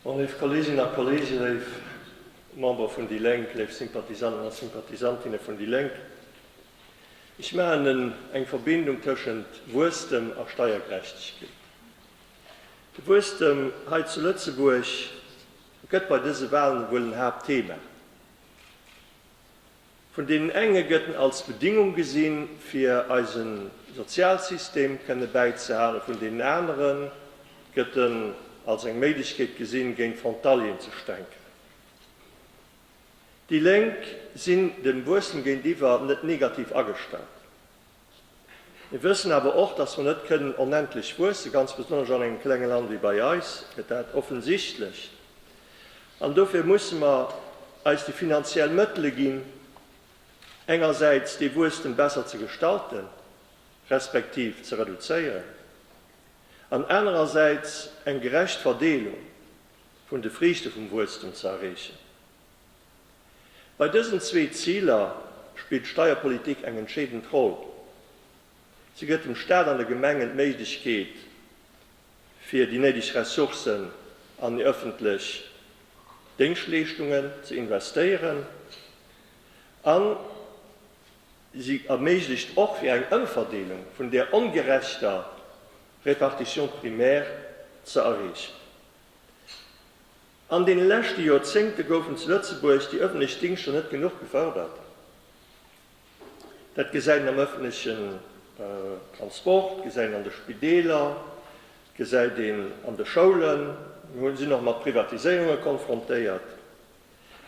Bon, léif Kolleeginnen a Kolleegen, léif Member vun déi Lénk, léif Sympathisanten a Sympathisantinne vun déi Lénk, ech maachen eng Verbindung tëschent Wuesstem a Steiergerechtegkeet. De Wuesstem hei zu Lëtzebuerg gëtt bei dëse Wahlen ewuel en Haaptthema. Vun deenen enge gëtt en als Bedingung gesinn, fir eise Sozialsystem kënne bäizehalen, vun deenen anere gëtt en als eng Méiglechkeet gesinn, géint Frontalieren ze stänken. Déi Lénk sinn dem Wuesstem géintiwwer net negativ agestallt. Mir wëssen awer och, dass mer net kënnen onendlech wuessen, ganz besonnesch an engem klenge Land wéi bei eis, gëtt dat offensichtlech. An dofir musse mer eis déi finanziell Mëttele ginn, engersäits dee Wuesstem besser ze gestalten, respektiv ze reduzéieren, an anerersäits eng gerecht Verdeelung vun de Friichte vum Wuesstem ze erreechen. Bei dësen zwee Ziler spillt d'Steierpolitik eng entscheedend Roll. Si gëtt dem Staat an de Gemengen d'Méiglechkeet, fir déi néideg Ressourcen an déi ëffentlech Déngschtleeschtungen ze investéieren a si erméiglecht och, fir eng Ëmverdeelung vun där ongerechter Répartition primaire ze erreechen. An den leschte Joerzéngte goufen zu Lëtzebuerg déi ëffentlech Dingschter net genuch gefërdert. Dat gesäit een am ëffentlechen Transport, gesäit een an de Spideeler, gesäit een an de Schoulen. Mir sinn och mat Privatiséierunge konfrontéiert.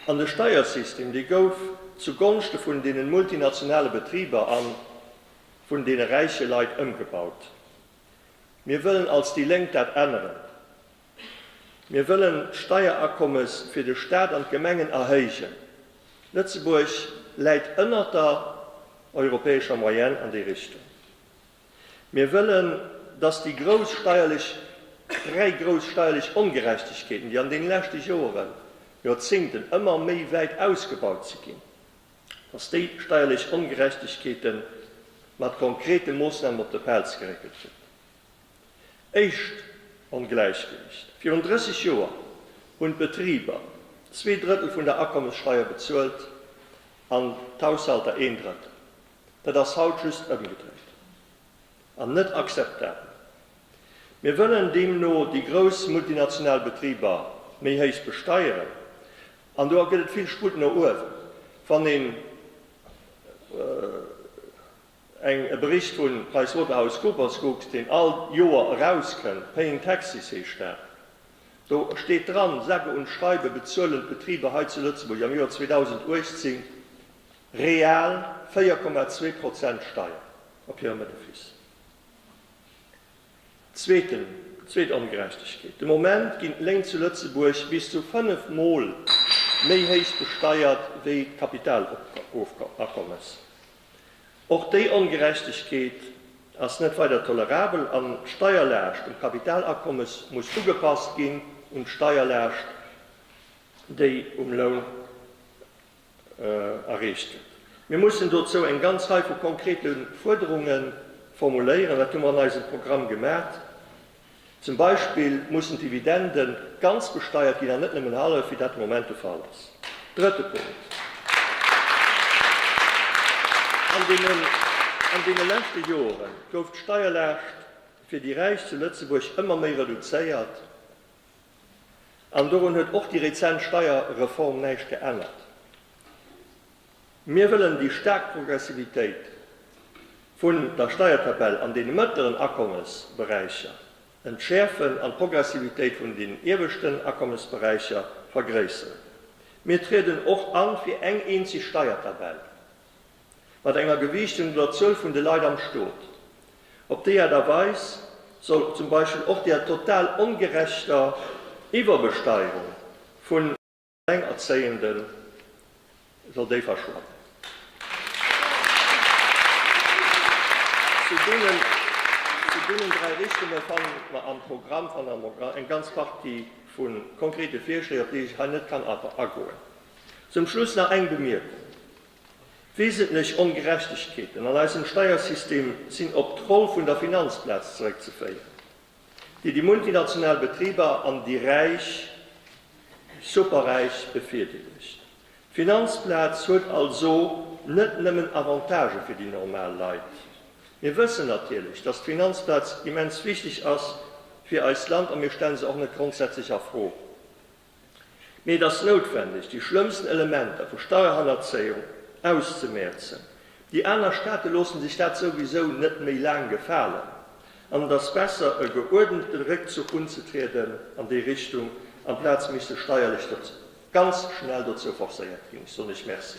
An de Steiersystem, dee gouf zu Gonschte vun deenen multinationale Betriber a vun deene räiche Leit ëmgebaut. Mir wëllen als déi Lénk dat änneren. Mir wëllen d'Steierakommes fir de Staat an d'Gemengen erhéijen. Lëtzebuerg läit ënnert der europäescher Moyenne an déi Richtung. Mir wëllen, dass déi grouss steierlech, dräi grouss steierlech Ongerechtegkeeten, déi an deene leschte Joeren, Joerzéngten ëmmer méi wäit ausgebaut si ginn, dass déi steierlech Ongerechtegkeete mat konkrete Moossnamen op de Pelz geréckelt ginn. Éischt Ongläichgewicht, Virun 30 Joer hunn d'Betriber zwee Drëttel vun der Akommessteier bezuelt an d'Haushalter een Drëttel. Dat ass haut just ëmgedréit an net akzeptabel. Mir wëllen deemno déi grouss multinational Betriber méi héich besteieren an do gëtt et vill Sputt no uewen, wann een. Eng e Bericht vun PricewaterhouseCoopers kuckt, deen all Joer erauskënnt, Paying Taxes heescht dat. Do steet dran, sage und schreibe bezuelen d'Betriber hei zu Lëtzebuerg am Joer 2018 real 4,2 Prozent Steier op hirem Benefiss. Zweeten, zweet Ongerechtegkeet, de Moment ginn d'Léin zu Lëtzebuerg bis zu 5 Mol méi héich besteiert wéi d'Kapitalakommes. Och déi Ongerechtegkeet ass net weider tolerabel an d'Steierlaascht um Kapitalakommes muss ugepasst ginn un d'Steierlaascht, déi um Loun erreecht gëtt. Mir mussen dozou eng ganz Rei vu konkrete Fuerderunge formuléieren. Dat hu mer an eisem Programm gemat. Zum Beispill mussen d'Dividende ganz besteiert ginn an net nëmmen hallef, wéi dat de Moment de Fall ass. Drëtte Punkt, An deene leschte Jore gouf d'Steierlaascht fir déi Räich zu Lëtzebuerg ëmmer méi reduzéiert an dorun huet och déi rezent Steierreform näischt geännert. Mir wëllen déi staark Progressivitéit vun der Steiertabell an deene mëttleren Akommesberäicher entschäerfen an d'Progressivitéit vun den ieweschten Akommesberäicher vergréisseren. Mir trieden och a fir eng eenzeg Steiertabell mat enger Gewiichtung no der Zuel vun de Leit am Stot. Op déi Aart a Weis soll zum Beispill och der total ongerechter Iwwerbesteierung vu. Alleinerzéienden soll déi verschwannen. Zu deenen dräi Richtunge fanne mer am Programm eng ganz Partie vu konkrete Virschléi, op déi ech hei net kann agoen. Zum Schluss nach eng Bemierkung, Wesentlech Ongerechtegkeeten an eisem Steiersystem sinn op d'Roll vun der Finanzplaz zeréckzeféieren. déi déi multinational Betriber an déi Räich, Superräich befierdeelegt. D'Finanzplaz huet also net nëmmen Avantagë fir déi normal Leit. Mir wëssen natierlech, dass d'Finanzplaz immens wichteg ass fir eist Land a mir stelle se och net grondsätzlech a Fro. Mee et ass noutwendeg, déi schlëmmsten Elementer vu Steierhannerzéiung auszemäerzen. Déi aner Staate loossen sech dat souwisou net méi laang gefalen an et ass besser, e geuerdente Réckzuch unzetrieden an déi Richtung, amplaz mech sech steierlech ganz schnell dozou forcéiert ginn. Ech soen Iech Merci.